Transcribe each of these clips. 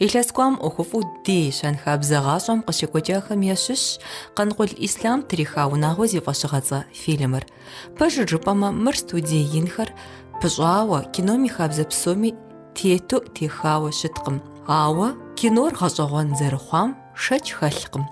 Илъэс кӏуам ӏуэхуфӏу ди щэнхабзэ гъащӏэм къыщекӏуэкӏахэм ящыщщ Къанкъул Ислъам триха унагъуэ зи фӏэщыгъэцӏэ фильмыр. Пэжыр жыпӏэмэ, мыр студие инхэр пыщӏауэ, кином и хабзэ псоми тету техауэ щыткъым. Ауэ кинор гъэщӏэгъуэн зэрыхъуам шэч хэлъкъым.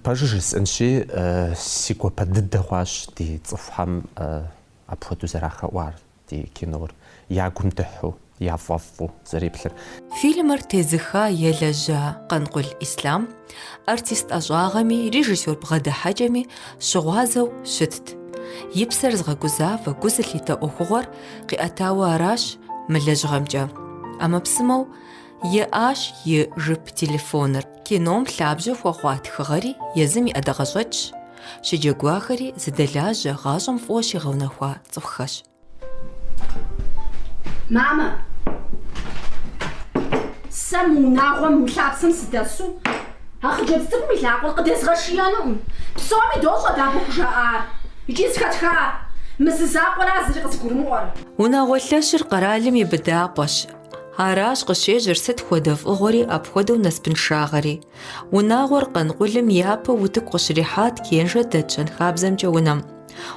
Пэжыр жысӏэнщи, си гуапэ дыдэ хъуащ ди цӏыхухэм апхуэдэу зэрахэӏуар. ди кинор я гум дыхьу, я фӏэфӏу зэреплъыр. Фильмыр тезыха елэжьа Къанкъул Ислъам артист ӏэщӏагъэми, режиссёр бгъэдыхьэкӏэми щыгъуазэу щытт. И псэр згъэгузавэ, гу зылъитэ ӏуэхугъуэр къиӏэтауэ аращ мы лэжьыгъэмкӏэ ӏэмэпсымэу, Иӏащ и жып телефоныр. Кином лъабжьэ хуэхъуа тхыгъэри езым и ӏэдакъэщӏэкӏщ, щыджэгуахэри зыдэлажьэ гъащӏэм фӏыуэ щигъэунэхуа цӏыхухэщ. Мамэ, сэ мы унагъуэм, мы лъапсэм сыдэсу а хъыджэбз цӏыкӏум и лъакъуэр къыдезгъэшиенукъым. Псоми дощӏэ дэ абы къыжаӏар икӏи зыхэтха мы зы закъуэра зыри къызыгурымыӏуэр. Унагъуэ лъэщыр къэралым и быдапӏэщ, Аращ къыщежьэр сыт хуэдэ фӏыгъуэри апхуэдэу насыпыншагъэри. Унагъуэр Къанкъулым япэу утыку къыщрихьат Кенжэ дэт щэнхабзэмкӏэ унэм.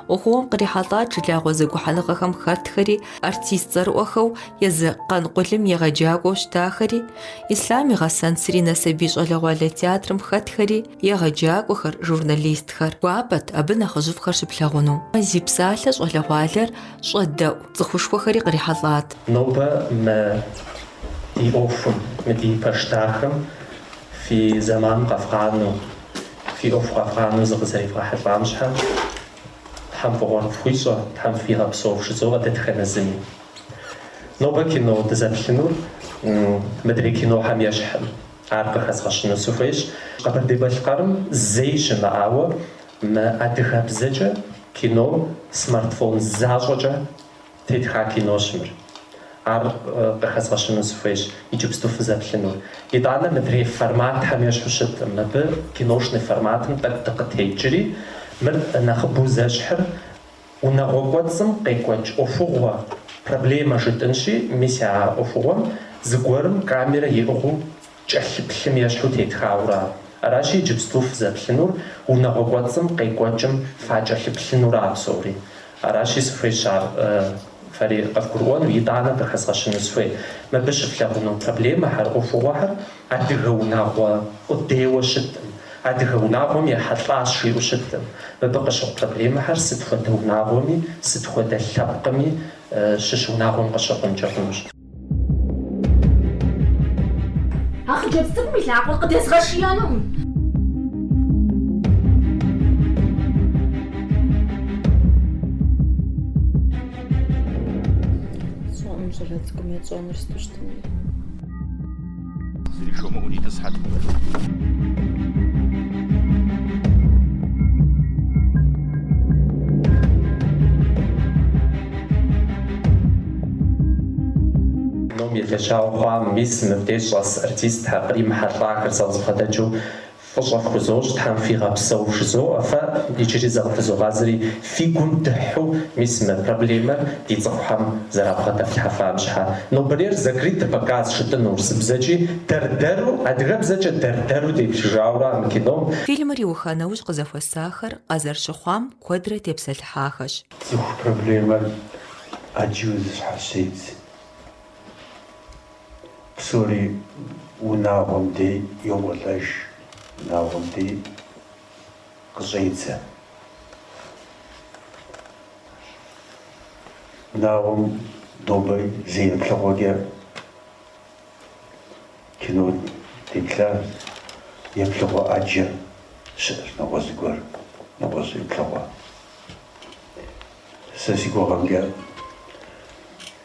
ӏуэхугъуэм кърихьэлӏат жылагъуэ зэгухьэныгъэхэм хэтхэри, артист цӏэрыӏуэхэу езы Къанкъулым егъэджакӏуэу щытахэри, Ислъам и гъэсэн Сыринэ сабий щӏалэгъуалэ театрым хэтхэри, егъэджакӏуэхэр, журналистхэр. Гуапэт абы нэхъыжьыфӏхэр щыплъагъуну. Зи псалъэ щӏалэгъуалэр щӏэдэӏу цӏыхушхуэхэри кърихьэлӏат. Нобэ мы ди ӏуэхум, мы ди пэш дахэм фи зэман къэфгъанэу, фи ӏуэху къэфгъанэу зыкъызэревгъэхьэлӏам щхьэкӏ Тхьэм фӏыгъуэ къыфхуищӏэ, Тхьэм фигъэпсэу фхужызоӏэ дэтхэнэ зыми. Нобэ кино дызэплъынур мыдрей кинохэм ещхьым, ар къыхэзгъэщыну сыхуейщ. Къэбэрдей-Балъкъэрым зэи щымыӏауэ Мы адыгэбзэкӏэ кином смартфон защӏэкӏэ тетха кинощ мыр. Ар къыхэзгъэщыну сыхуейщ иджыпсту фызэплъынур. Итӏанэ мыдрей форматхэм ещхьу щыттым. Мыбы киношный форматым тӏэкӏу дыкъытекӏри, мыр нэхъыбэу зэщхьыр унагъуэ кӏуэцӏым къекӏуэкӏ ӏуэхугъуэ проблемэ жытӏынщи, мис а ӏуэхугъуэм зыгуэрым камерэ иӏыгъыу кӏэлъыплъым ещхьу тетхауэ ара. Аращи, иджыпсту фызэплъынур унагъуэ кӏуэцӏым къекӏуэкӏым факӏэлъыплъыну ара псори. Аращи, сыхуейщ ар фэри къывгурыӏуэну, итӏанэ къыхэзгъэщыну сыхуей. Мыбы щыфлъагъуну проблемэхэр, ӏуэхугъуэхэр адыгэ унагъуэ къудейуэ щыттым, адыгэ унагъуэм ехьэлӏащ жиӏэу щыттым. Мыбы къыщыхъу проблемэхэр сыт хуэдэ унагъуэми, сыт хуэдэ лъэпкъми щыщ унагъуэм къыщыхъункӏэ хъунущ. А хъыджэбз цӏыкӏум и лъакъуэр къыдезгъэшиинукъым. Сщӏэӏым щӏалэ цӏыкӏум ищӏэнур сыту щытыну. Зыри жумыӏэу кином елэжьауэ хъуа мис мыбдеж щӏэс артистхэр, кърихьэлӏахэр зэхуэдэкӏэу Фӏыщӏэ фхузощӏ, Тхьэм фигъэпсэу вжызоӏэ фэ, иджыри зыкъыфызогъазэри фи гум дыхьу, мис мы проблемэр ди цӏыхухэм зэрабгъэдэфлъхьэфам щхьэ. Нобэрейр закрытый показ жытӏын урысыбзэкӏи дэр-дэру, адыгэбзэкӏэ дэр-дэру деплъыжауэ ара мы кином. Фильмыр иуха нэужь къызэхуэсахэр къазэрыщыхъуам куэдрэ тепсэлъыхьахэщ. Цӏыху проблемэр ӏэджэу зыщхьэщедз. Псори унагъуэм дей йокӏуэлӏэж, унагъуэм дей къыщӏедзэ. Унагъуэм нобэ зы еплъыгъуэкӏэ кином деплъащ, еплъыгъуэ ӏэджэ щыӏэщ, нэгъуэщӏ зыгуэр, нэгъуэщӏ еплъыгъуэ. Сэ си гугъэмкӏэ.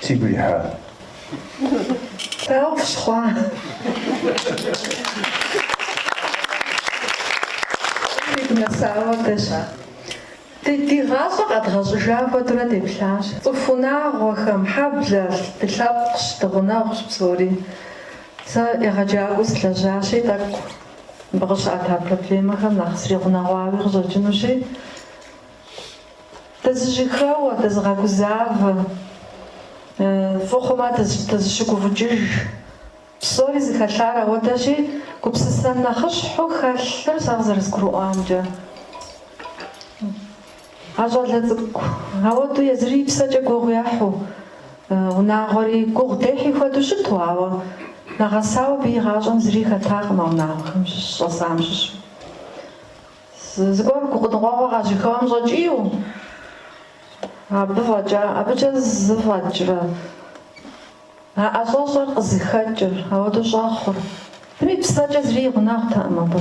Сигу ирихьа? Дауэ фщыхъуа? Сигу нэсауэ дэща? Ди гъащӏэр къэдгъэщӏэжа хуэдэурэ деплъащ. Цӏыху унагъуэхэм, хьэблэ, ди лъэпкъщ, ди гъунэгъущ псори. Сэ егъэджакӏуэу сылэжьащи, тӏэкӏу мыбы къыщыӏэта проблемэхэм нэхъ сригъунэгъуауи къыщӏэкӏынущи, Дызыщыхэуэ, дызыгъэгузавэ, фӏы хъумэ дызыщыгуфӏыкӏыж. Псори зыхэлъар ауэдэщ, и, гупсысэм нэхъыщхьу хэлъыр сэ къызэрызгурыӏуамкӏэ. А щӏалэ цӏыкӏу ауэдэу езыри псэкӏэ гугъу ехьу, унагъуэри гугъу дехьи хуэдэу щыту, ауэ нэгъэсауэ абы и гъащӏэм зыри хэтакъым а унагъуэхэм щыщӏэсам щыщу. Зыгуэр гукъыдэмыжыгъуэ къащыхэуэм щӏэкӏийу, абы фӏэкӏа, абыкӏэ зыфӏэкӏрэ а ӏэщӏэщӏэр къызыхэкӏыр? Ауэдэу щӏэхъур. Зыри псэкӏэ зыри и гъунэгъутэкъым абы.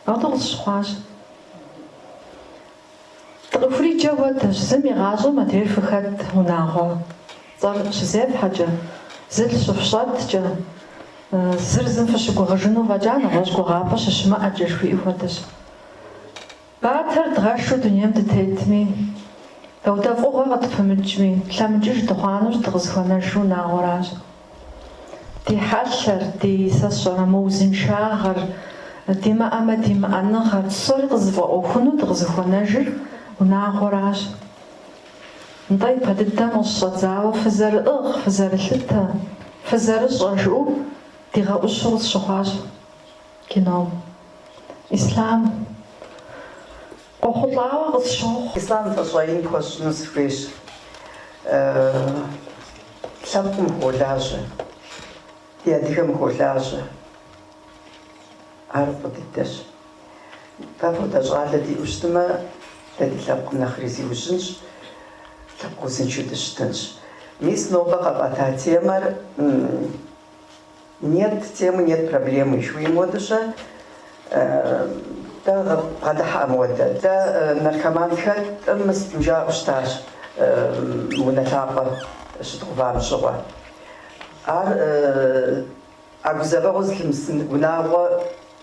Ауэдэу къысщыхъуащ. Дыкъыхуриджэ хуэдэщ, зым и гъащӏэм адрейр фыхэт, унагъуэ. Зы цӏэр щызефхьэкӏэ, зылъ щыфщӏэткӏэ, зыр зым фыщыгугъыжыну фӏэкӏа нэгъуэщӏ гугъапӏэ щыщымыӏэкӏэ жыхуиӏэу хуэдэщ. Батэр дгъэшу дунейм дытетми, дауэдэ фӏыгъуэ къытпымыкӏми, лъэмыкӏыж дыхъуа нэужь дыкъызыхуэнэжыр унагъуэращ. Ди хьэлъэр, ди, сэ сщӏэрэ, мыузыншагъэр, димыӏэмэ димыӏэныгъэр, псори къызыфӏэӏуэхуну дыкъызыхуэнэжыр унагъуэращ. Нтӏэ, ипэ дыдэм къыщыщӏэдзауэ фызэрыӏыгъ, фызэрылъытэ, фызэрыщӏэ, жыӏэу дигъэӏущу къысщыхъуащ кином. Ислъам къохъулӏауэ къысщохъу. Ислъам фӏыщӏэ ин пхуэсщӏыну сыхуейщ. Лъэпкъым хуолажьэ. Ди адыгэм хуолажьэ. Ар фӏы дыдэщ. Апхуэдэ щӏалэ диӏэу щытмэ, дэ ди лъэпкъым нэхъри зиужьынщ, лъэпкъ узыншэу дыщытынщ. Мис нобэ къэфӏэта темэр Нет темы, нет проблемы жыхуиӏэм хуэдэу-щэ? Дэ бгъэдыхьэ амуэдэ. Дэ наркоманхэм жаӏэу щытащ унэ лъапӏэ щыдгъувам щыгъуэ. Ар а гузэвэгъуэр зылъымысын унагъуэ.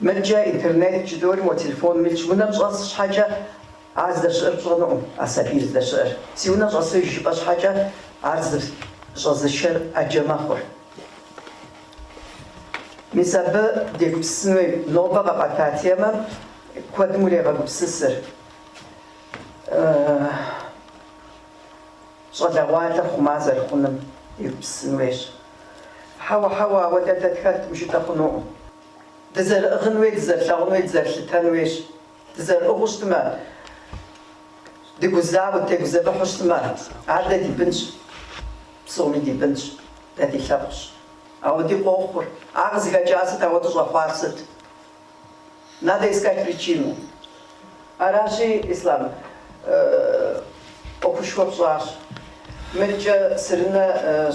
Иджы интернеткӏэ, итӏанэ мо телефоным илъщ, унэм щӏэс щхьэкӏэ ар здэщыӏэр пщӏэнукъым, а сабийр здэщыӏэр. Си унэм щӏэсыж жыпӏэ щхьэкӏэ ар зыщӏэзышэр ӏэджэ мэхъур. Мис абы дегупсысын хуейщ нобэ къэфӏэта темэм куэдым урегъэгупсысыр. Щӏалэгъуалэ хъума зэрыхъуным егупсысын хуейщ. Хьэуэ, хьэуэ, ауэ дэ датхэр мыжытӏэ хъунукъым. Дызэрыӏыгъын хуей, дызэрылъэгъун хуей, дызэрылъытэн хуейщ. Дызэрыӏыгъыу щытмэ, дыгузауэу, дегузэвыхьу щытмэ, ар дэ ди бынщ. Псоми ди бынщ, дэ ди лъэпкъщ. Ауэдэ къохъур, ар къызыхэкӏар сыт, ауэдэ щӏэхъуар сыт? Надо искать причину. Аращи, Ислам, ӏуэхушхуэ пщӏащ. Мыдкӏэ сырынэ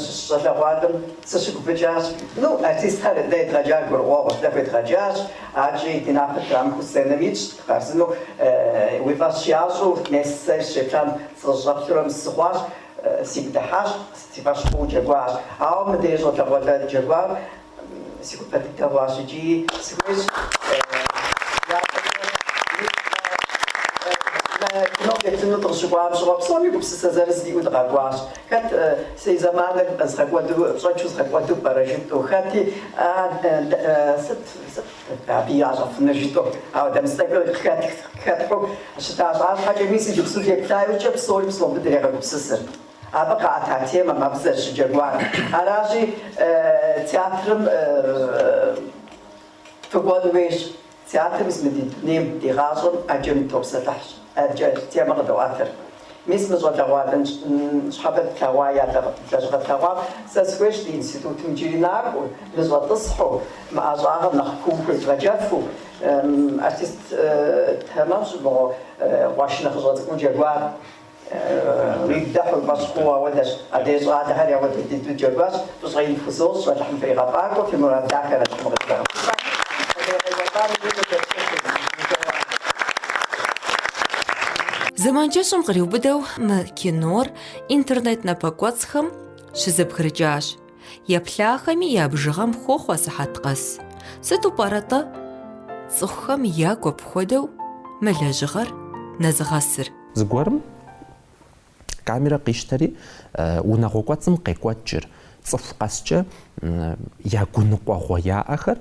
щыщ щӏалэгъуалэм сыщыгуфӏыкӏащ. Ну, артистхэр дэ едгъэджар гурыӏуэгъуэщ, дэ хуедгъэджащ, аркӏи ди напэр трамыхыу сценэм итщ, дыкъарзыну. Уи фӏэщ ящӏу, мес сэ сщеплъам сыщӏэплъурэ мыс сыхъуащ, сигу дыхьащ, си фӏэщ хъууэ джэгуащ. Ауэ мыдэ и щӏалэгъуалэ джэгуар. Си гуапэ дыдэ хъуащ икӏи сыхуейщ мы кином деплъыну дыкъыщыкӏуам щыгъуэ псоми гупсысэ зырыз диӏэу дыкъэкӏуащ. Хэт си зэманыр згъэкӏуэду, пщӏэншэу згъэкӏуэду пӏэрэ жытӏэу, хэти сыт, сыт абы ящӏэфынур жытӏэу, ауэ дэмыцӏэкӏэ къыхэт, къыхэт хъу щыта щхьэкӏэ, мис иджыпсту деплъа иужькӏэ псори псом дыдрегъэгупсысыр. Абы къаӏэта темэм абы зэрыщыджэгуар. Аращи, театрым фыкӏуэн хуейщ. Театр мис мы ди дунейм, ди гъащӏэм ӏэджэм дытопсэлъыхь, ӏэджэ темэ къыдоӏэтыр. Мис мы щӏалэгъуалэ ныщхьэбэ дэ тлъэгъуа я лэжьыгъэ тлъэгъуам? Сэ схуейщ ди институтым иджыри накӏуэу, ныщӏэтӏысхьэу, мы ӏэщӏагъэм нэхъ куу хуезгъэджэфу. Артист тэмэм щӏымыгъуэу, къуэш нэхъыщӏэ цӏыкӏуу джэгуар. Риддэ хьурмэщӏ хъууэ ауэдэщ. Адрей щӏалэхэр ауэдэ дыдэу джэгуащ. Фӏыщӏэ ин фхузощӏ, Алыхьым фригъэфӏакӏуэ, фи мурад дахэрэ щыму къыфхуигъэхъулӏэ. Зэман кӏэщӏым къриубыдэу мы кинор интернет напэкӏуэцӏхэм щызэбгрыкӏащ. Еплъахэми я бжыгъэм хохъуэ сыхьэт къэс. Сыту пӏэрэ-тӏэ цӏыхухэм ягу апхуэдэу мы лэжьыгъэр нэзыгъэсыр? Зыгуэрым камерэ къищтэри, унагъуэ кӏуэцӏым къекӏуэкӏыр, цӏыху къэскӏэ я гуныкъуэгъуэ яӏэхэр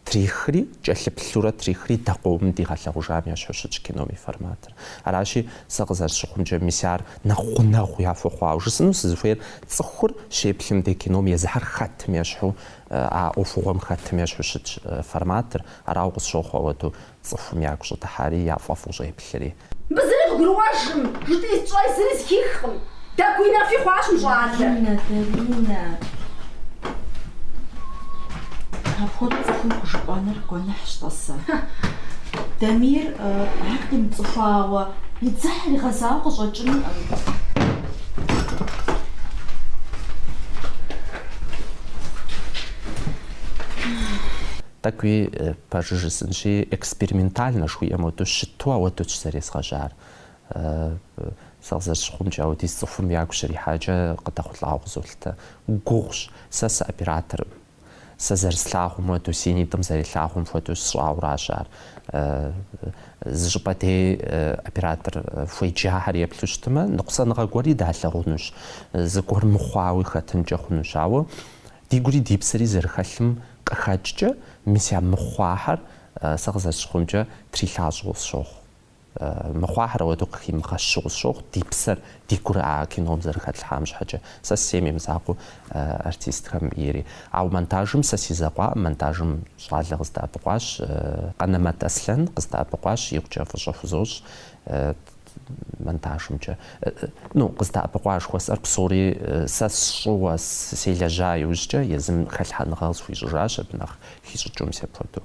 трихри, кӏэлъыплъурэ трихри дэкъуэум дигъэлъэгъужам ещхьу щытщ кином и форматыр. Аращи, сэ къызэрысщыхъумкӏэ, мис ар нэхъ гъунэгъу яхуэхъуауэ. Жысӏэну сызыхуейр, цӏыхур щеплъым де кином езыхьэр хэтым ещхьу, а ӏуэхугъуэм хэтым ещхьу щытщ форматыр. Арауэ къысщохъу ауэду. Цӏыхум ягу щӏыдыхьари, яфӏэфӏу щӏеплъри. Мыбы зыри къыгурыӏуэжкъым, жытӏи сщӏэ, зыри зыхихкъым. Дэгуи нэфи хъуащ мы щӏалэр. Даринэ, Даринэ! Апхуэдэу цӏыхум хужыпӏэныр гуэныхьщ, тӏасэ. Дамир ар къимыцӏыхуауэ, и дзыхьыр игъэзауэ къыщӏэкӏынкъым. Тӏэкӏуи Пэжу жысӏынщи, экспериментальнэ жыхуиӏэм хуэдэу щыту ауэдэущ зэрезгъэжьар. Сэ къызэрысщыхъумкӏэ, ауэдиз цӏыхум ягу щрихьэкӏэ къыдэхъулӏауэ къызолъытэ. Гугъущ, сэ сыоператорӏым. Сэ зэрыслъагъум хуэдэу, си нитӏым зэрелъагъум хуэдэу сщӏауэращ ар. Зы щӏыпӏэ дей оператор хуеджахэр еплъу щытмэ, ныкъусаныгъэ гуэри далъэгъунущ, зыгуэр мыхъуауи хэтынкӏэ хъунущ. Ауэ Ди гури ди псэри зэрыхэлъым къыхэкӏкӏэ, мис а мыхъуахьэр сэ къызэрысщыхъумкӏэ трилъащӏэу сщохъу. Мыхъуахьэр ауэдэу къыхимыгъэщыу сщохъу, ди псэр, ди гур а кином зэрыхэтлъхьам щхьэкӏэ. Сэ сейм имызакъуэу артистхэм ири. Ауэ монтажым сэ си закъуаӏым, монтажым щӏалэ къыздэӏэпыкъуащ, Къанэмэт Аслъэн къыздэӏэпыкъуащ, икъукӏэ фӏыщӏэ хузощӏ. монтажымкӏэ, ну, къыздэӏэпыкъуа жыхуэсӏэр псори сэ сщӏыуэ селэжьа иужькӏэ езым хэлъхьэныгъэ къысхуищӏыжащ абы нэхъ хищӏыкӏыу мис апхуэдэу.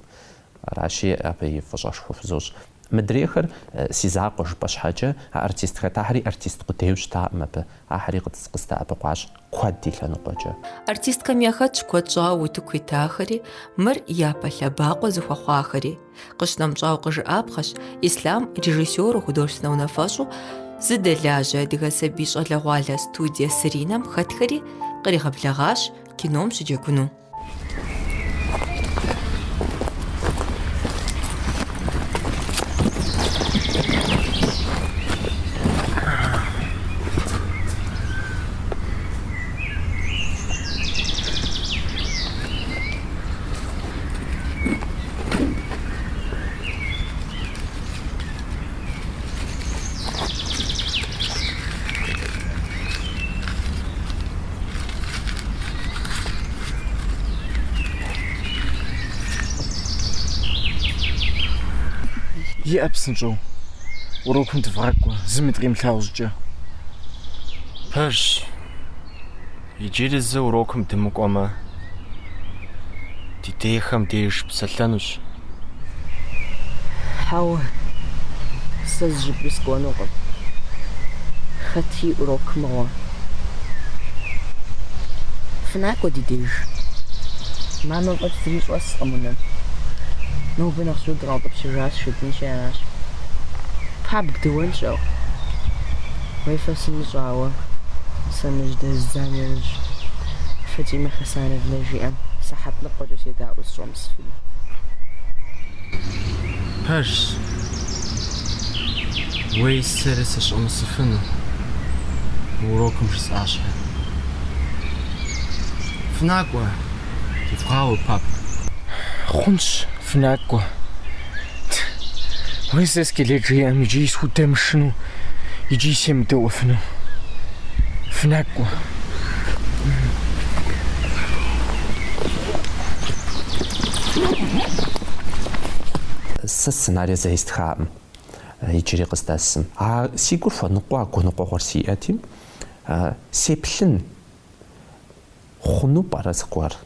Аращи, абыи фӏыщӏэшхуэ хузощӏ. Мыдрейхэр си закъуэ жыпӏэ щхьэкӏэ, а артист хэтахэри артист къудейуэ щытаӏым абы, ахьэри къыздэӏэпыкъуащ куэд и лъэныкъуэкӏэ. Артистхэм яхэтщ куэд щӏауэ утыку итахэри, мыр япэ лъэбакъуэ зыхуэхъуахэри. Къыщынэмыщӏауэ къыжыӏапхъэщ Ислъам режиссеру художественнэ унафэщӏу зыдэлажьэ адыгэ сабий щӏалэгъуалэ студие Сыринэм хэтхэри къригъэблэгъащ кином щыджэгуну. Иӏэ псынщӏэу. Урокым дывгъакӏуэ, зыми дыкъимылъагъу щӏыкӏэ. Пэжщ. Иджыри зы урокым дымыкӏуэмэ, ди дейхэм деж псэлъэнущ. Хьэуэ, сэ зыщӏыпӏи сыкӏуэнукъым. Хэт и урок мыгъуэ? Фынакӏуэ ди деж. Мамэ фӏэкӏ зыри щӏэскъым унэм. Нобэ нэхъ жьыуэ дыкъаутӏыпщыжащ, жытӏынщи аращ. Пабг дыуэнщ, ауэ. Уей, фэ сымыщӏэ, ауэ сэ мыр жьэдэздза нэужь, Фатимэ Хьэсановнэ жиӏэм сыхьэт ныкъуэкӏэ седаӏуэу сыщӏэмысыфыну. Пэжщ, уей сэри сыщӏэмысыфыну, мы урокым жысӏащхьэ. Фынакӏуэ, девгъауэ, папэ. Хъунщ, фынакӏуэ. Уи сэ скелет жиӏэм иджи схудэмышыну, иджи семыдэӏуэфыну. Фынакӏуэ. Сэ сценарий зэи стхакъым иджыри къыздэсым. А си гур хуэныкъуэ, а гуныкъуэгъуэр сиӏэти, сеплъын хъуну пӏэрэ зыгуэр?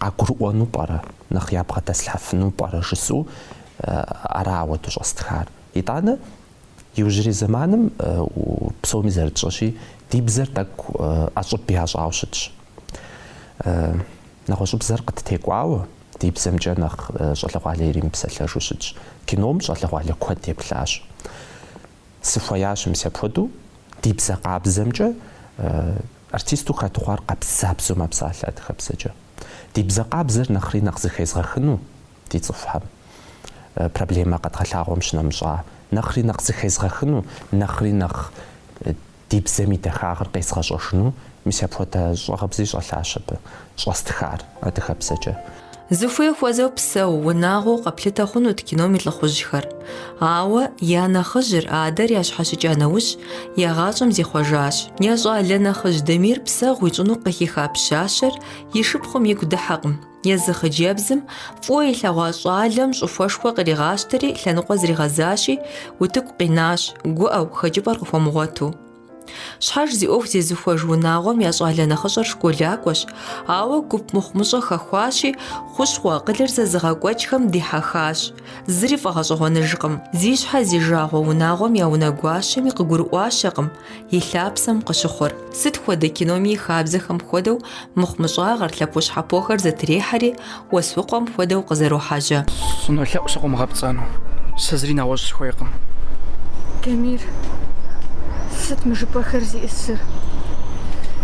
къагурыӏуэну пӏэрэ, нэхъ ябгъэдэслъхьэфыну пӏэрэ жысӏэу ара ауэду щӏэстхар. Итӏанэ, иужьрей зэманым псоми зэрытщӏэщи, ди бзэр тӏэкӏу ӏэщӏыб ящӏауэ щытщ. Нэгъуэщӏыбзэр къыттекӏуауэ, ди бзэмкӏэ нэхъ щӏалэгъуалэ иримыпсэлъэжу щытщ. Кином щӏалэгъуалэ куэд еплъащ. Сыхуеящ мис апхуэдэу ди бзэ къабзэмкӏэ. Артисту хэт хъуар къабзабзэу мэпсалъэ адыгэбзэкӏэ. Ди бзэ къабзэр нэхъри нэхъ зыхезгъэхыну ди цӏыхухэм проблемэ къэдгъэлъагъуэм щынэмыщӏа, нэхъри нэхъ зыхезгъэхыну, нэхъри нэхъ ди бзэм и дахагъыр къезгъэщӏэжыну, мис апхуэдэ щӏагъыбзи щӏэлъащ абы. щӏэстхар адыгэбзэкӏэ. Зыхуей хуэзэу псэу, унагъуэу къэплъытэ хъунут кином и лӏыхъужьхэр. Ауэ я нэхъыжьыр, адэр ящхьэщыкӏа нэужь, я гъащӏэм зихъуэжащ. Я щӏалэ нэхъыжь Дамир псэгъу ищӏыну къыхиха пщащэр и шыпхъум игу дыхьэкъым. Езы хъыджэбзым фӏыуэ илъэгъуа щӏалэм щӏыхуэшхуэ къригъащтэри, лъэныкъуэ зригъэзащи, утыку къинащ, гуӏэу, хэкӏыпӏэр къыхуэмыгъуэту. Щхьэж зи ӏуэху зезыхуэж унагъуэм я щӏалэ нэхъыщӏэр школакӏуэщ, ауэ гуп мыхъумыщӏэ хэхуащи, хущхъуэ акъылыр зэзыгъэкӏуэкӏхэм дихьэхащ. Зыри фӏэгъэщӏэгъуэныжкъым, зи щхьэ зи жагъуэ унагъуэм я унэгуащэми къыгурыӏуащэкъым и лъапсэм къыщыхъур. Сыт хуэдэ киноми и хабзэхэм хуэдэу Мыхъумыщӏагъэр, лъэпощхьэпохэр зэтрехьэри, уэсукхъуэм хуэдэу къызэрохьэжьэ. Сынолъэӏу сыкъумыгъэпцӏэну. Сэ зыри нэгъуэщӏ сыхуейкъым. Дамир, сыт мы жыпӏэхэр зиӏысыр?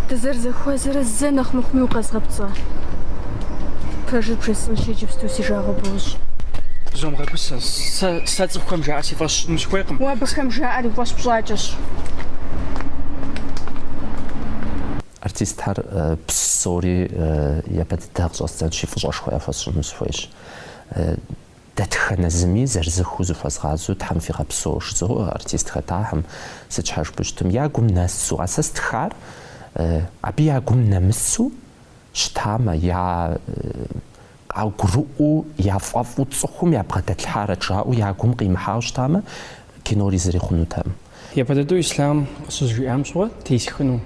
Дызэрызэхуэзэрэ зэ нэхъ мыхъуми укъэзгъэпцӏа? Пэжыр бжесӏэнщ иджыпсту, си жагъуэ бощӏ. Зумыгъэгусэ. Сэ, сэ цӏыхухэм жаӏэр си фӏэщ сщӏыну сыхуейкъым. Уэ абыхэм жаӏэр уи фӏэщ пщӏакӏэщ. Артистхэр псори япэ дыдэ къыщӏэздзэнщи, фӏыщӏэшхуэ яхуэсщӏыну сыхуейщ. Дэтхэнэ зыми зырызыххэу зыхуэзгъазэу Тхьэм фигъэпсэу жызоӏэ артист хэтахэм, сыт щхьэ жыпӏэ щытмэ я гум нэсу, а сэ стхар абы я гум нэмысу щытамэ, я къагурыӏуэу, яфӏэфӏу цӏыхум ябгъэдэлъхьарэт жаӏэу я гум къимыхьауэ щытамэ, кинори зыри хъунутэкъым. Япэ дыдэу Ислъам къыщызжиӏам щыгъуэ тесхыну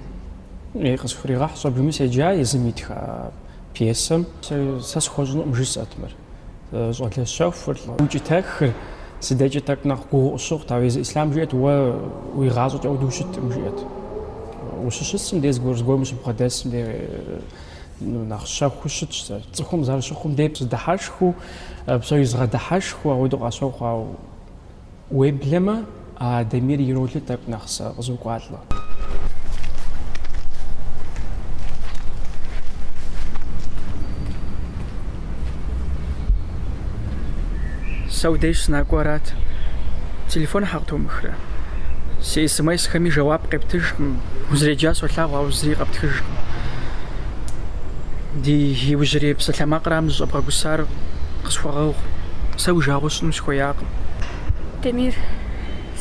ӏей къысхуригъэхь щӏэбжыми седжа езым итха пьесэм. Сэ схуэщӏынукъым жысӏэт мыр. Щӏалэ щэхур, лӏы укӏытэхыр си декӏэ тӏэкӏу нэхъ гугъу сщыхъут, ауэ езы Ислъам жиӏэт уэ уи гъащӏэкӏэ ауэдэу ущыткъым жиӏэт. Ущыщысым де зыгуэр зыгуэрым ущыбгъэдэсым де. ну, нэхъ щэхуу щытщ сэр. Цӏыхум зэрыщыхъум дей сыдыхьэшхыу, псори згъэдыхьэшхыу ауэдэу къащохъу, ауэ уеблэмэ, а Дамир и ролыр тӏэкӏу нэхъ сэ къызокӏуалӏэ. Сэ уи деж сынакӏуэ арат. Телефоныр щхьэ къытомыхрэ? Си смс-хэми жэуап къептыжкъым. Узэреджар солъагъу, ауэ зыри къэптхыжкъым. Ди иужьрей псалъэмакърамэ зыщӏэбгъэгусар къысхуэгъэгъу. Сэ уи жагъуэ сщӏыну сыхуеякъым. Дамир,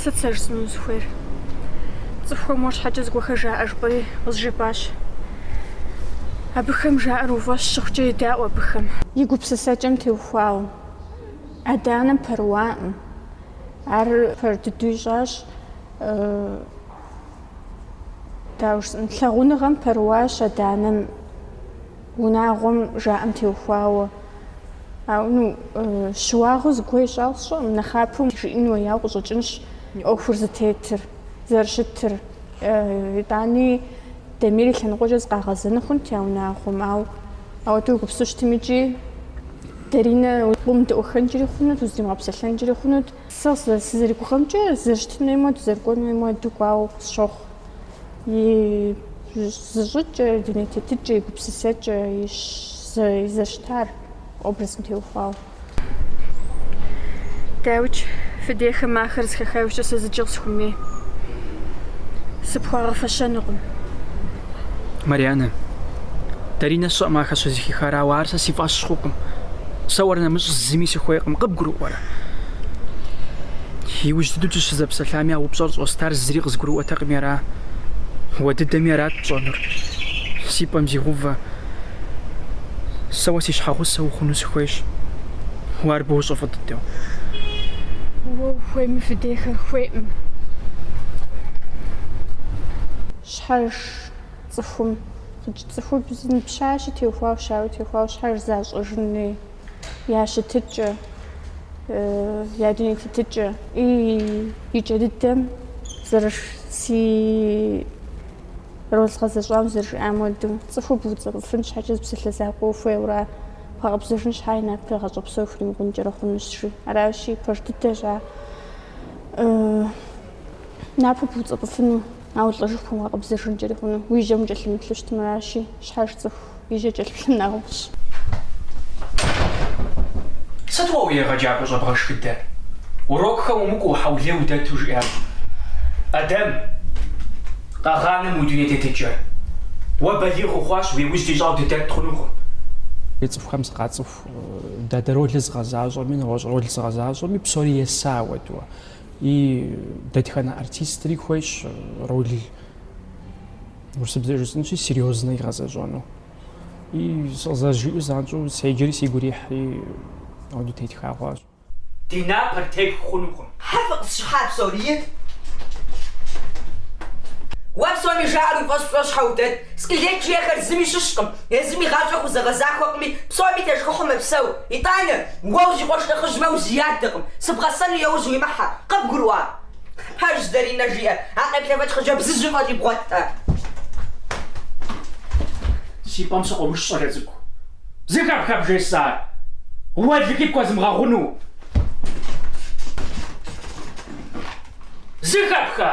сыт сэ жысӏэну сыхуейр? Цӏыхухэм уэ щхьэкӏэ зыгуэхэр жаӏэ жыпӏэри къызжепӏащ. Абыхэм жаӏэр уфӏэщ щыхъукӏэ едаӏуэ абыхэм. И гупсысэкӏэм теухуауэ, адэ-анэм пэрыуакъым. Ар пэж дыдэу ищӏащ, дауэ жысӏэн, лъагъуныгъэм пэрыуащ адэ-анэм, унагъуэм жаӏэм теухуауэ. Ауэ, ну, щыуагъэу зыгуэр ищӏауэ сщӏэкъым, нэхъапэу жиӏэн хуеяуэ къыщӏэкӏынщ ӏуэхур зытетыр, зэрыщытыр. Итӏани Дамир и лъэныкъуэкӏэ зыкъагъэзэну хъунт я унагъуэм, ауэ ауэдэу егупсысу щытым икӏи Даринэ къомыдэӏуэххэнкӏэри хъунут, уздимыгъэпсэлъэнкӏэри хъунут. Сэ сызэригугъэмкӏэ, зэрыщытын хуейм хуэдэу, зэрыкӏуэн хуейм хуэдэу кӏуауэ сщохъу. И зыщӏыкӏэ, и дуней тетыкӏэ, и гупсысэкӏэ, и зэрыщытар образым теухуауэ. Дауикӏ, фи дейхэм ахэр зыхаха нэужькӏэ сэ зыкӏи къысхуэмей. Сыпхуагъэфэщэнукъым. Марианэ, Даринэ сщӏэкъым ахэр щызыхихар, ауэ ар сэ си фӏэщ хъукъым. Сэ уэр нэмыщӏ зыми сыхуейкъым, къыбгурыӏуэрэ? Иужь дыдэу дыщызэпсэлъами, а упщӏэр щӏостар зыри къызгурыӏуэтэкъыми ара? Уэ дыдэми арат пщӏэнур. Си пӏэм зигъэувэ. Сэ уэ си щхьэгъусэ ухъуну сыхуейщ. Уэ ар бощӏэ фӏы дыдэу. Уэ ухуейми фи дейхэр хуейкъым. Щхьэж цӏыхум хъыджь цӏыхубз пщащи теухуауэ щауи теухуауэ щхьэж защӏэжын хуей я щытыкӏэ, я дуней тетыкӏэ. И кӏэ дыдэм зэрыш си Роль згъэзэщӏам зэрыжиӏам хуэдэу, цӏыху буцӏэпӏыфын щхьэкӏэ зы псалъэ закъуэ ухуейуэ ар? Бгъэкъэбзэжын щхьэ и напэр гъащӏэ псо пхуримыкъункӏэри хъунущ, жи. Аращи, пэж дыдэщ ар напэ буцӏэпӏыфыну, ауэ лӏэжыху имыгъэкъэбзэжынкӏэри хъуну. Уи жьэм укӏэлъымыплъу щытмэ, аращи, щхьэж цӏыху. И жьэ кӏэлъыплъым нэхъыфӏщ. Сыт уэ уи егъэджакӏуэ щӏэбгъэшхыдэр? Урокхэм умыкӏуэу, хьэулей удэту, жиӏащ Адэм, къэгъанэ мы уи дуней тетыкӏэ. Уэ балигъ ухъуащ, уи ужь ди щӏагъу дыдэт хъунукъым. Ди цӏыхухэм сыкъацӏыху дадэ ролыр згъэзащӏэми, нэгъуэщӏ рол згъэзащӏэми, псори еса апхуэдэу. И дэтхэнэ артистри хуейщ рол. Урысыбзэ жысӏэнщи, серьезно игъэзэщӏэну. И къызэрызжиӏэу занщӏэу седжэри сигу ирихьри апхуэдэу тетха хъуащ. Ди напэр тетх хъунукъым. Щхьэ фыкъысщыхьа псори? Уэ псоми жаӏэр уи фӏэщ пщӏыуэ щхьэ удэт? Сплетникхэр зыми щыщкъым, езым и гъащӏэ хузэгъэзахуэкъыми, псоми тешхыхьу мэпсэу. Итӏанэ, уэ уси къуэш нэхъыжьмэ, узиядакъым. Сыбгъэсэну яужь уимыхьэ. Къыбгурыӏуа? Пэж Зэринэ жиӏэр, а къеплъэфэкӏ хъыджэбзыжьым фӏэкӏи бгъуэтэ. Си пӏэм сыкъомыш, щӏалэ цӏыкӏу. Зэхэпха бжесӏар? Уэлэхьи пхуэзмыгъэгъуну. Зэхэпха?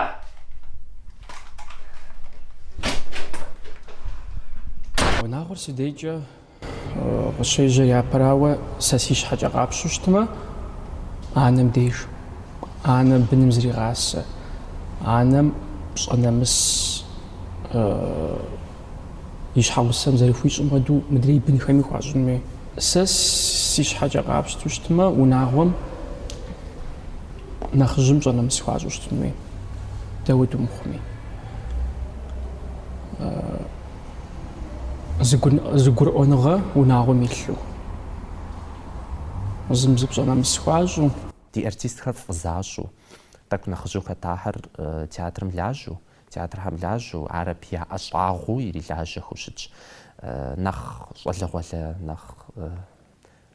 Унагъуэр си дежкӏэ Къыщежьэр япэрауэ, сэ си щхьэкӏэ къапщту щытмэ, анэм деж, анэм быным зэригъасэ, анэм пщӏэ нэмыс и щхьэгъусэм зэрыхуищӏым хуэдэу мыдрей бынхэми хуащӏын хуей. Сэ си щхьэкӏэ къапщту щытмэ, унагъуэм нэхъыжьым пщӏэ нэмыс хуащӏу щытын хуей, дауэ дымыхъуми. зы гурыӏуэныгъэ унагъуэм илъу, зым зы пщӏэ нэмыс хуащӏу. Ди артистхэр фӏы защӏу, тӏэкӏу нэхъыжьу хэтахэр театрым лажьэу, театрхэм лажьэу, ар абы я ӏэщӏагъэу ирилажьэхэу щытщ. Нэхъ щӏалэгъуалэ, нэхъ.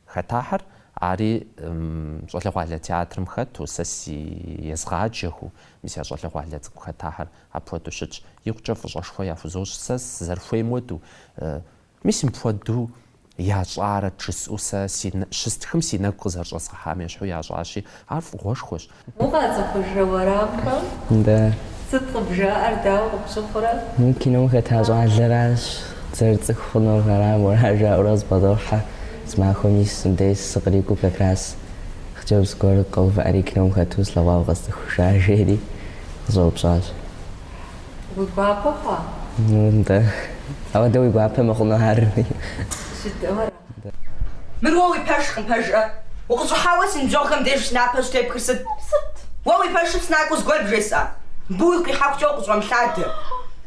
Хэтахэр ари щӏалэгъуалэ театрым хэту, сэ си езгъаджэхэу, мис я щӏалэгъуалэ цӏыкӏу хэтахэр апхуэдэу щытщ. Икъукӏэ фӏыщӏэшхуэ яхузощӏ сэ сызэрыхуейм хуэдэу. Мис мыпхуэдэу ящӏарэт жысӏэу сэ щыстхым си нэгу къызэрыщӏэзгъэхьам ещхьу ящӏащи, ар фӏыгъуэшхуэщ. Укъацӏыхужрэ уэрамхэм? Дэ. Сыт къыбжаӏэр, дауэ къыпщыхъурэ? Мы кином хэта щӏалэращ, дызэрыцӏыху хъуну арам, ара жаӏэурэ къызбгъэдохьэ, зы махуэм мис мыбдеж сыкърикӏуэу как раз хъыджэбз гуэр къэувыӏэри кином хэту слъэгъуауэ къэсцӏыхужа, жери къызэупщӏащ. Уи гуапэ хъуа? Нтӏэ. Ауэдэ уи гуапэ мыхъуну ар? Жыдэу арам. Мыр уэ уи пэшкъым, пэжрэ? Укъыщӏыхьауэ си ныбжьэгъухэм деж си напэ щӏытепхыр сыт? Сыт? Уэ уи пэшым сынакӏуэу зыгуэр бжесӏа? Мыбы уигу къихьэхукӏэ укъыщӏэмылъадэ.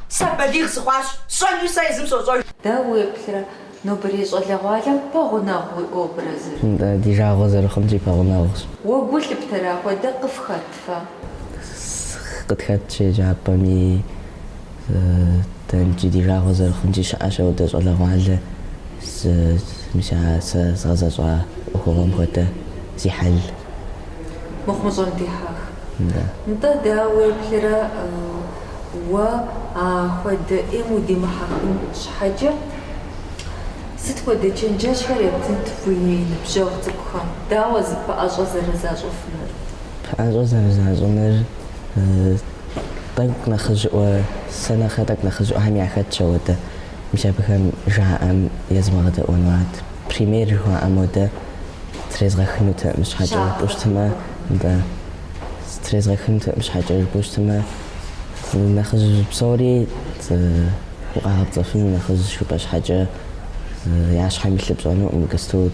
Сэ балигъ сыхъуащ, сщӏэнуи сэ езым сощӏэж. Дауэ уеплърэ нобэрей щӏалэгъуалэм пэгъунэгъу уи образыр? Ди жагъуэ зэрыхъунщи, пэгъунэгъущ. Уэ гу лъыптэрэ апхуэдэ къыфхэт? фэ. Къытхэтщ еджапӏэми, дэ иджы ди жагъуэ зэрыхъунщи щыӏэщ апхуэдэ щӏалэгъуалэ, мис а сэ згъэзэщӏа ӏуэхугъуэм хуэдэ зи хьэл, мыхъумыщӏэм дихьэх. Нтӏэ, дауэ уеплърэ, уэ апхуэдэ ӏейм удимыхьэхын щхьэкӏэ, сыт хуэдэ чэнджэщхэр ептынт уи ныбжьэгъу цӏыкӏухэм, дауэ зыпэӏэщӏэ зэрызащӏыфынур? Пэӏэщӏэ зэрызащӏыныр тӏэкӏу нэхъыжьыӏуэ, сэ нэхърэ тӏэкӏу нэхъыжьыӏуэхэм яхэтщ ауэдэ. Мис абыхэм жаӏэм езмыгъэдэӏуэну арт. Пример жыхуаӏэм хуэдэ трезгъэхынутэкъым щхьэкӏэ жыпӏэу щытмэ, нтӏэ, трезгъэхынутэкъым щхьэкӏэ жыпӏэу щытмэ, нэхъыжь псори укъагъэпцӏэфыну нэхъыжь жыпӏэ щхьэкӏэ я щхьэм илъыр пщӏэнукъым, Гастут.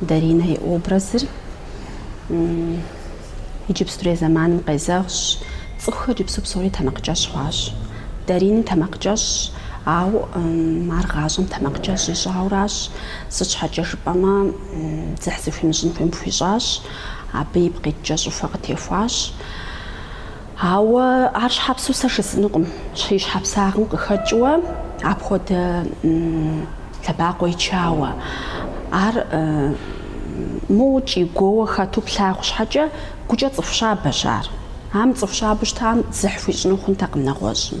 Даринэ и образыр иджыпстурей зэманым къезэгъщ. Цӏыхухэр иджыпсту псори тэмакъкӏэщӏ хъуащ. Даринэ тэмакъкӏэщӏщ, ауэ ар гъащӏэм тэмакъкӏэщӏ ищӏауращ. Сыт щхьэкӏэ жыпӏэмэ, дзыхь зыхуимыщӏын хуейм хуищӏащ, абы ипкъ иткӏэ щӏыхуэ къытехуащ. Ауэ ар щхьэпсу сэ жысӏэнукъым, щхьи щхьэпсагъым къыхэкӏыуэ апхуэдэ лъэбакъуэ ичауэ. Ар моуэ кӏий-гуоуэ хэту плъагъу щхьэкӏэ, гукӏэ цӏыху щабэщ ар. Ам цӏыху щабэу щытам дзыхь хуищӏыну хъунтэкъым нэгъуэщӏым.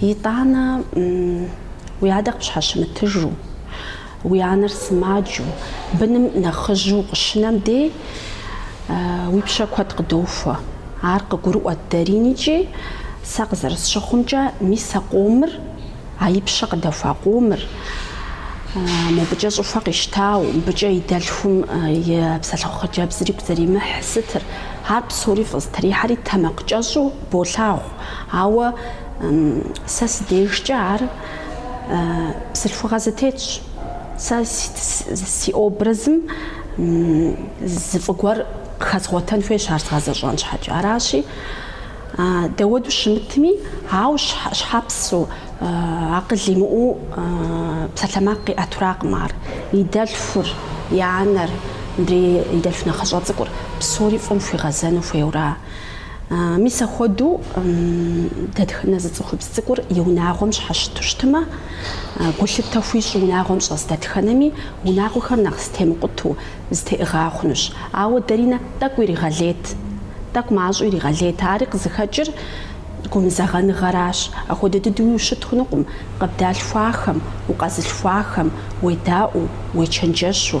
Итӏанэ, уи адэ къыпщхьэщымытыжу, уи анэр сымаджэу, быным нэхъыжьу укъыщынэм дей, уи пщэ куэд къыдохуэ. Ар къыгурыӏуэт Даринэ икӏи, сэ къызэрысщыхъумкӏэ, мис а къомыр, а и пщэ къыдэхуа къомыр, мобыкӏэ щӏыхуэ къищтау, мыбыкӏэ и дэлъхум и псэлъыхъу хъыджэбзри игу зэримыхь сытыр, ар псори фӏызэтрихьэри тэмакъкӏэщӏу болъагъу. Ауэ сэ сыдежкӏэ ар бзылъхугъэ зэтетщ. Сэ си образым зы фӏы гуэр къыхэзгъуэтэн хуейщ ар згъэзэщӏэн щхьэкӏэ. Аращи, дауэдэу щымытми, ауэ щхьэпсу, акъыл имыӏэу псалъэмакъ къиӏэтуракъым ар. И дэлъхур, и анэр, мыбдеж и дэлъху нэхъыщӏэ цӏыкӏур псори фӏым хуигъэзэну хуейуэра? Мис апхуэдэу дэтхэнэ зы цӏыхубз цӏыкӏур и унагъуэм щхьэщыту щытмэ, гулъытэ хуищӏу унагъуэм щӏэс дэтхэнэми унагъуэхэр нэхъ зэтемыкъутэу, зэтеӏыгъа хъунущ. Ауэ Даринэ тӏэкӏу иригъэлейт, тӏэкӏу мащӏэу иригъэлейт. Ари къызыхэкӏыр гумызэгъэныгъэращ. Апхуэдэ дыдэуи ущыт хъунукъым, къыбдалъхуахэм, укъэзылъхуахэм уедаӏуэу, уечэнджэщу.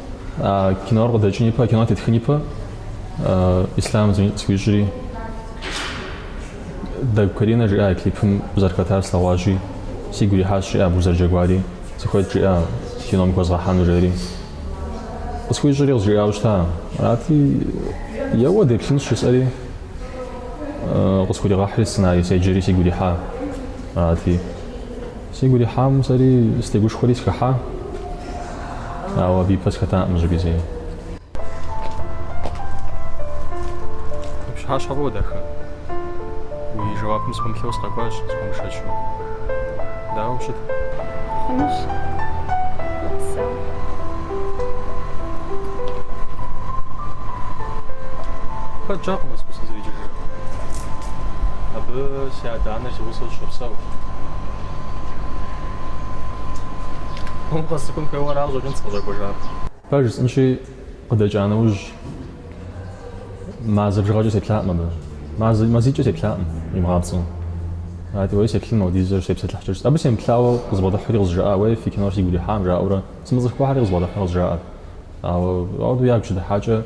А кинор къыдэкӏын ипэ, а кинор тетхын ипэ Ислъам къысхуищӏри, Дэгу Каринэ жиӏа и клипым узэрыхэтар слъэгъуащи, сигу ирихьащ, жиӏа абы узэрыджэгуари, сыхуейт жиӏа кином ухэзгъэхьэну жери. Къысхуищӏри къызжиӏауэ щыта, арати, еуэ деплъынщ жысӏэри, къысхуригъэхьри сценарий седжэри сигу ирихьа, арати. Сигу ирихьам сэри сытегушхуэри сыхыхьа, ауэ абы ипэ сыхэтакъым зыщӏыпӏи зэи. Пщыхьэщхьэ фӏыуэ дахэ. Уи жэуапым сыпэмыплъэу сыкъэкӏуащ, схуэмышэчу. Дауэ ущыт? Хъунущ. Сэ. Хэджакъым Москва сызэреджэжыр. Абы си адэ-анэр си гъусэу щопсэу. Къэсыкӏын хуейуэ аращ, щӏэкӏынт сыкъыщӏэкӏуэжар. Пэж жысӏэнщи, къыдэкӏа нэужь. Мазэ бжыгъэкӏэ сеплъакъым абы. Мазэ, мазикӏэ сеплъакъым, имыгъапцӏэу. Ати уей сеплъын Мавдизэ сепсэлъыхькӏэ. Абы семыплъауэ къызбгъэдыхьри къызжаӏа, уей фи кинор сигу ирихьам жаӏэурэ, сымыцӏыхухэри къызбгъэдыхьэурэ къызжаӏэр. Ауэ ауэдэу ягу щыдыхьакӏэ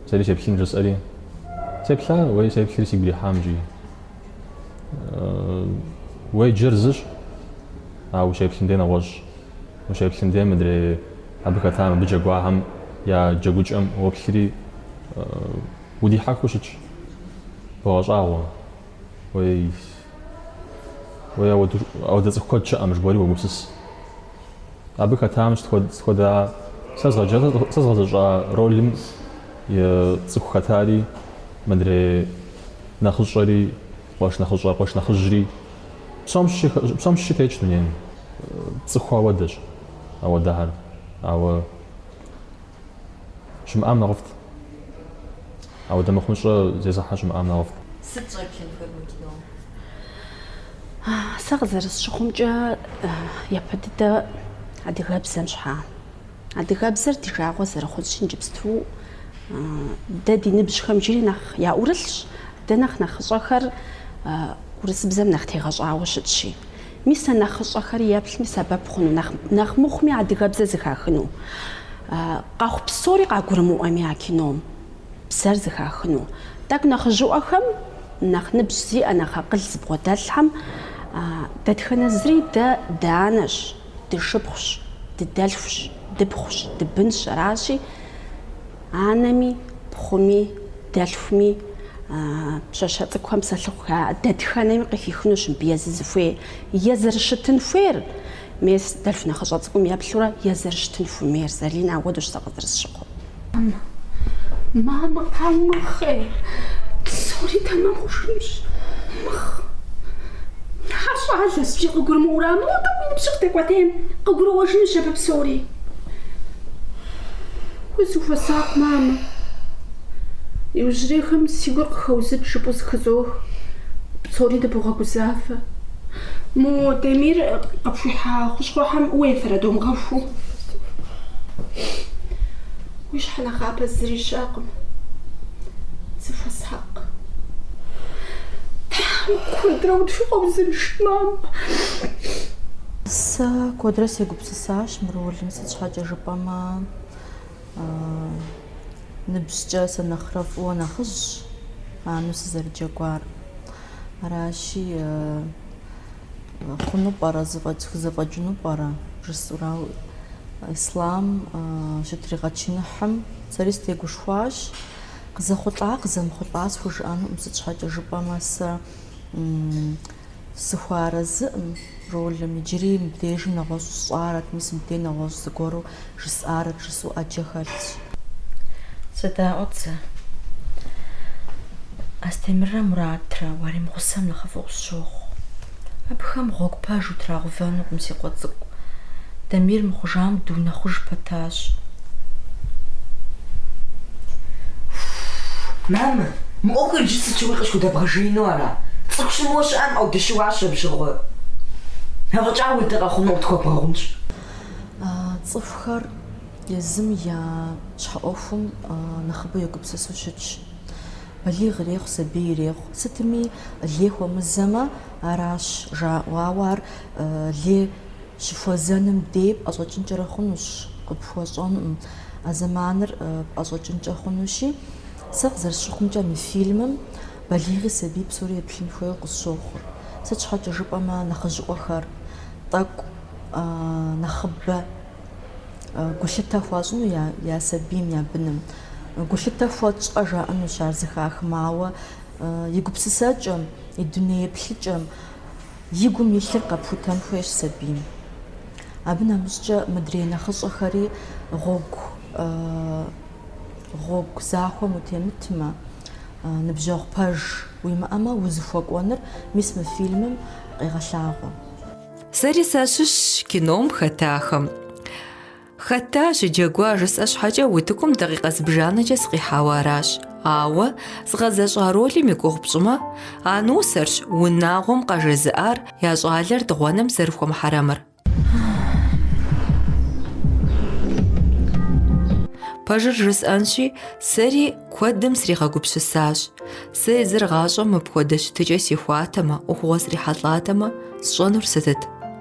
сэри сеплъын жысӏэри. Сеплъа, уей сеплъри сигу ирихьам икӏи. Уеджэр зыщ, ауэ сеплъым дей нэгъуэщӏ. Ущеплъым де мыдрей абы хэтам, абы джэгуахэм я джэгукӏэм уоплъри, удихьэхыу щытщ. Богъэщӏагъуэ. Уей, уей, ауэдэ цӏыху куэд щыӏэ, мы жыбоӏэри уогупсыс. Абы хэтам сыт хуэдэ сэ згъэзэщӏа ролым и цӏыху хэтари, мыдрей нэхъыщӏэри. Къуэш нэхъыщӏэ, къуэш нэхъыжьри, псом щыщи, псом щыщи тетщ дунейм. Цӏыху ауэдэщ ауэдэхэр, ауэ щымыӏам нэхъыфӏт. Ауэдэ мыхъумыщӏэ зезыхьэ щымыӏам нэхъыфӏт. Сыт щӏеплъынхэр мы кином? Сэ къызэрысщыхъумкӏэ, япэ дыдэ адыгэбзэм щхьа. Адыгэбзэр ди жагъуэ зэрыхъунщи, иджыпсту. Дэ ди ныбжьхэм иджыри нэхъ яӏурылъщ, дэ нэхъ нэхъыщӏэхэр урысыбзэм нэхъ тегъэщӏауэ щытщи. Мис а нэхъыщӏэхэри еплъми сэбэп хъуну, нэхъ нэхъ мыхъуми адыгэбзэр зыхахыну. Къэхъу псори къагурымыӏуэми а кином бзэр зыхахыну. Тӏэкӏу нэхъыжьыӏуэхэм, нэхъ ныбжь зиӏэ, нэхъ акъыл зыбгъуэдэлъхэм дэтхэнэ зыри дэ дыанэщ. дышыпхъущ, дыдэлъхущ, дыпхъущ, дыбынщ, аращи, анэми, пхъуми, дэлъхуми, пщащэ цӏыкӏухэм псэлъыхъу хаӏэ, дэтхэнэми къыхихынущ мыбы езы зыхуей, е зэрыщытын хуейр, мес дэлъху нэхъыщӏэ цӏыкӏум еплъурэ, е зэрыщытын хуэмейр, Залинэ, ауэдэущ сэ къызэрысщыхъур. Мамэ, къаумыхъей, псори тэмэм хъужынущ. Мыхъ. Ар щӏалэщ, жи къыгурымыӏуэрамэ, нобэ и ныбжьыр къыдэкӏуэтейм, къыгурыӏуэжынущ абы псори. Узыхуэсакъ, мамэ. Иужьрейхэм си гур къыхоузыкӏ жыпӏэу зыхызох. Псори дыбогъэгузавэ. Мо Дамир къыпхуихьа хущхъуэхэм уефэрэ думыгъэхуу? Уи щхьэ нэхъапэ зыри щыӏэкъым. Зыхуэсакъ. Куэдрэ тхуэузыншэу щыт, мам. Сэ куэдрэ сегупсысащ мы ролым, сыт щхьэкӏэ жыпӏэмэ, Ныбжькӏэ сэ нэхърэ фӏыуэ нэхъыжьщ анэу сызэрыджэгуар. Аращи, хъуну пӏэрэ, зэфӏэкӏыну пӏэрэ жысӏэурэ, ауэ Ислам щытригъэчыныхьым сэри сытегушхуащ. Къызэхъулӏа, къызэмыхъулӏа схужыӏэнукъым, сыт щхьэкӏэ жыпӏэмэ сэ Сыхуэарэзыӏым ролым, иджыри мыбдежым нэгъуэщӏу сщӏарэт, мис мыбдей нэгъуэщӏ зыгуэру жысӏарэт, жысӏэу ӏэджэ хэлъщ. Зэ даӏуэт зэ. Астемыррэ Муратрэ уаримыгъусэм нэхъыфӏу къысщохъу. Абыхэм гъуэгу пэж утрагъэувэнукъым, си къуэ цӏыкӏу. Дамир мыхъужам дыунэхъуж пэтащ. Мамэ, мы ӏуэхур иджы сыт щыгъуи къысхудэбгъэжеину ара? Цӏыху щымыуэ щыӏэкъым, ӏэу, дыщыуащ абы щыгъуэ. Афӏэкӏа уи дэ къэхъуну къытхуэбгъэгъунщ. Цӏыхухэр езым я щхьэӏуэхум нэхъыбэу егупсысу щытщ. Балигъ ирехъу, сабий ирехъу. Сытми лей хуэмызэмэ, аращ жаӏэу, ауэ ар лей. Щыхуэзэным дей пӏэщӏэкӏынкӏэрэ хъунущ, къыпхуэщӏэнкъым, а зэманыр пӏэщӏэкӏынкӏэ хъунущи. Сэ къызэрысщыхъумкӏэ, мы фильмым балигъи сабий псори еплъын хуейуэ къысщохъу. Сыт щхьэкӏэ жыпӏэмэ, нэхъыжьыӏуэхэр тӏэкӏу нэхъыбэ гулъытэ хуащӏыну я я сабийм, я быным. Гулъытэ хуэтщӏэ жаӏэнущ ар зэхахмэ, ауэ и гупсысэкӏэм, и дуней еплъыкӏэм. И гум илъыр къэпхутэн хуейщ сабийм. Абы нэмыщӏкӏэ мыдрей нэхъыщӏэхэри гъуэгу гъуэгу захуэм утемытмэ, ныбжьэгъу пэж уимыӏэмэ, узыхуэкӏуэныр мис мы фильмым къегъэлъагъуэ. Сэри сащыщщ кином хэтахэм. Хэта щыджэгуа жысӏэ щхьэкӏэ утыкум дакъикъэ зыбжанэкӏэ сыкъихьауэ аращ. Ауэ згъэзэщӏа ролым и гугъу пщӏымэ, а нусэрщ унагъуэм къажезыӏар я щӏалэр дыгъуэным зэрыхуэмыхьэрэмыр. Пэжыр жысӏэнщи, сэри куэдым сригъэгупсысащ. Сэ езыр гъащӏэм мыпхуэдэ щытыкӏэ сихуатэмэ, ӏуэхугъуэ срихьэлӏатэмэ, сщӏэнур сытыт?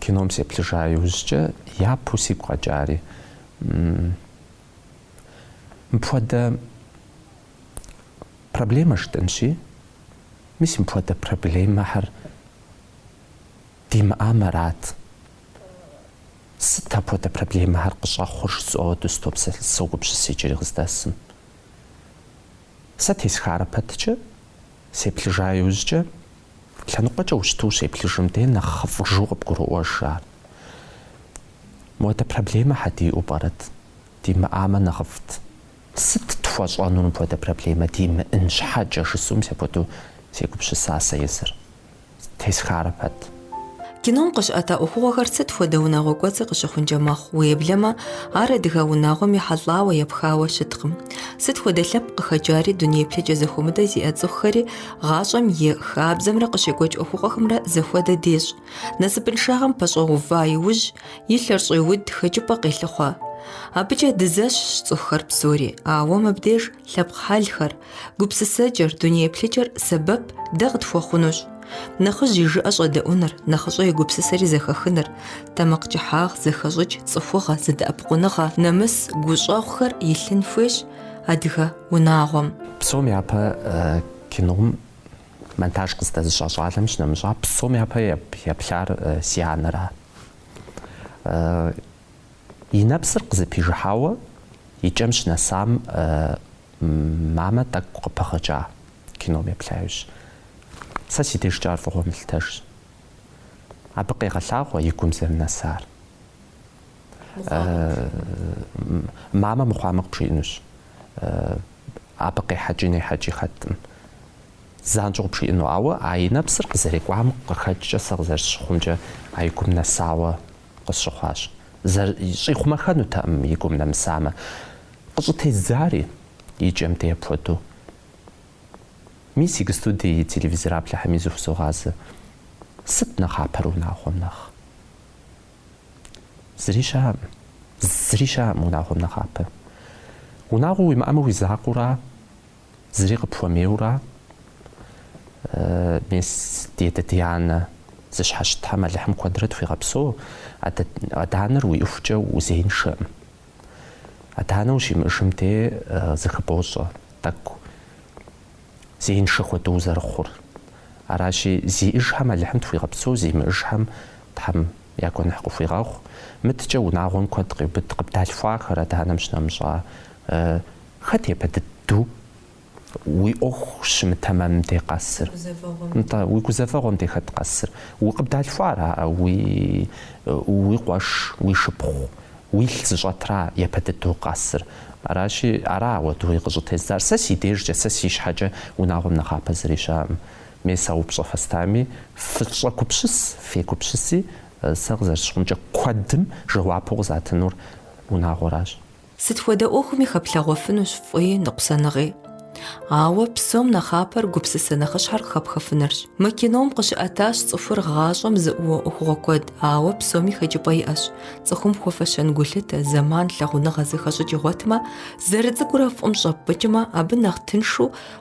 Кином сеплъыжа иужькӏэ япэу сигу къэкӏари, мыпхуэдэ проблемэ жытӏэнщи, мис мыпхуэдэ проблемэхэр димыӏам арат. Сыт апхуэдэ проблемэхэр къыщӏэхъур жысӏэуэ дыстопсэлъ, согупсыс иджыри къыздэсым. Сэ тесхарэ пэткӏэ. Сеплъыжа иужькӏэ, лъэныкъуэкӏэ ущыту ущеплъыжым де нэхъыфӏыжу къыбгурыӏуэж ар. Муэдэ проблемэ щхьэ диӏэу пӏэрэт? Димыӏамэ нэхъыфӏт. Сыт тхуэщӏэнур мыпхуэдэ проблемэ димыӏын щхьэкӏэ жысӏэу мис апхуэдэу сегупщыса сэ езыр. тесхарэ пэт. Кином къыщыӏэта ӏуэхугъуэхэр сыт хуэдэ унагъуэ кӏуэцӏи къыщыхъункӏэ мэхъу, уеблэмэ, ар адыгэ унагъуэм ехьэлӏауэ, епхауэ щыткъым. Сыт хуэдэ лъэпкъ къыхэкӏари, дуней еплъыкӏэ зэхуэмыдэ зиӏэ цӏыхухэри гъащӏэм и хабзэмрэ къыщекӏуэкӏ ӏуэхугъуэхэмрэ зэхуэдэ дещӏ. Насыпыншагъэм пэщӏэува иужь, и лъэр щӏеуд, хэкӏыпӏэ къелъыхъуэ. Абыкӏэ дызэщхьщ цӏыхухэр псори, ауэ мыбдеж Лъэпкъ хьэлхэр, гупсысэкӏэр, дуней плъыкӏэр сэбэп дэ къытхуэхъунущ. Нэхъыжь и жыӏэ щӏэдэӏуныр, нэхъыщӏэ и гупсысэри зэхэхыныр, тэмакъ кӏыхьагъ, зэхэщӏыкӏ, цӏыхугъэ, зэдэӏэпыкъуныгъэ, нэмыс, гущӏэгъухэр илъын хуейщ адыгэ унагъуэм. Псом япэ кином монтаж къыздэзыщӏа щӏалэм щынэмыщӏа, псом япэ еплъар си анэра. И нэпсыр къызэпижыхьауэ и кӏэм щынэсам мамэ тӏэкӏу къыпыгъыкӏа кином еплъа иужь. Сэ си дежкӏэ ар фӏыгъуэ мылъытэжщ. Абы къегъэлъагъуэ и гум зэрынэсар. Мамэ мыхъуамэ къыпжиӏэнущ. Абы къехьэкӏи нехьэкӏи хэткъым. Занщӏэу къыпжиӏэну, ауэ а и нэпсыр къызэрекӏуам къыхэкӏкӏэ сэ къызэрысщыхъумкӏэ а и гум нэсауэ къысщыхъуащ. Зыри щӏихъумэххэнутэкъым, и гум нэмысамэ. Къыщӏытездзари, и кӏэм дей апхуэдэу. Мис иджы студие и телевизореплъхэми зыхузогъазэ. Сыт нэхъапэр унагъуэм нэхъ? Зыри щыӏэкъым. Зыри щыӏэкъым унагъуэм нэхъапэ. Унагъуэ уимыӏэмэ уи закъуэура? Зыри къыпхуэмейуэра? Мес, ди адэ, ди анэ зыщхьэщытхэм Алыхьым куэдрэ тхуигъэпсэу, адэ-анэр уиӏэхукӏэ узеиншэкъым. Адэ-анэ ущимыӏэжым дей зыхыбощӏэ тӏэкӏу зеиншэ хуэдэу узэрыхъур. Аращи, зиӏэжхэм Алыхьым тхуигъэпсэу, зимыӏэжхэм Тхьэм Я гуэныхь къыхуигъэгъу, мыдэкӏэ унагъуэм куэд къеубыд къыбдалъхуахэр адэ-анэм щынэмыщӏа. Хэт япэ дыдэу уи ӏуэху щымытэмэм дей къэсыр? Нтӏэ, уи гузэвэгъуэм дей хэт къэсыр? Уэ къыбдалъхуара уи къуэш, уи шыпхъу, уилъ зыщӏэтра япэ дыдэу къэсыр? Аращи, ара хуэдэуи къыщӏытезыдзар? Сэ си дежкӏэ, сэ си щхьэкӏэ унагъуэм нэхъапэ зыри щыӏэкъым, Мис а упщӏэ фэстами, фыщӏэгупсыс, фегупсыси, сэ къызэрысщыхъумкӏэ, куэдым жэуапу къызатынур унагъуэращ. Сыт хуэдэ ӏуэхуми хэплъэгъуэфынущ фӏыи ныкъусаныгъи. Ауэ псом нэхъапэр гупсысэ нэхъыщхьэр къыхэпхыфынырщ. Мы кином къыщыӏэтащ цӏыхур гъащӏэм зыӏууэ ӏуэхугъуэ куэд, ауэ псоми хэкӏыпӏэ иӏэщ, цӏыхум хуэфэщэн гулъытэ, зэман, лъагъуныгъэ зэхэщӏыкӏ игъуэтмэ, зэрыцӏыкӏурэ фӏым щӏэппӏыкӏмэ, абы нэхъ тыншу,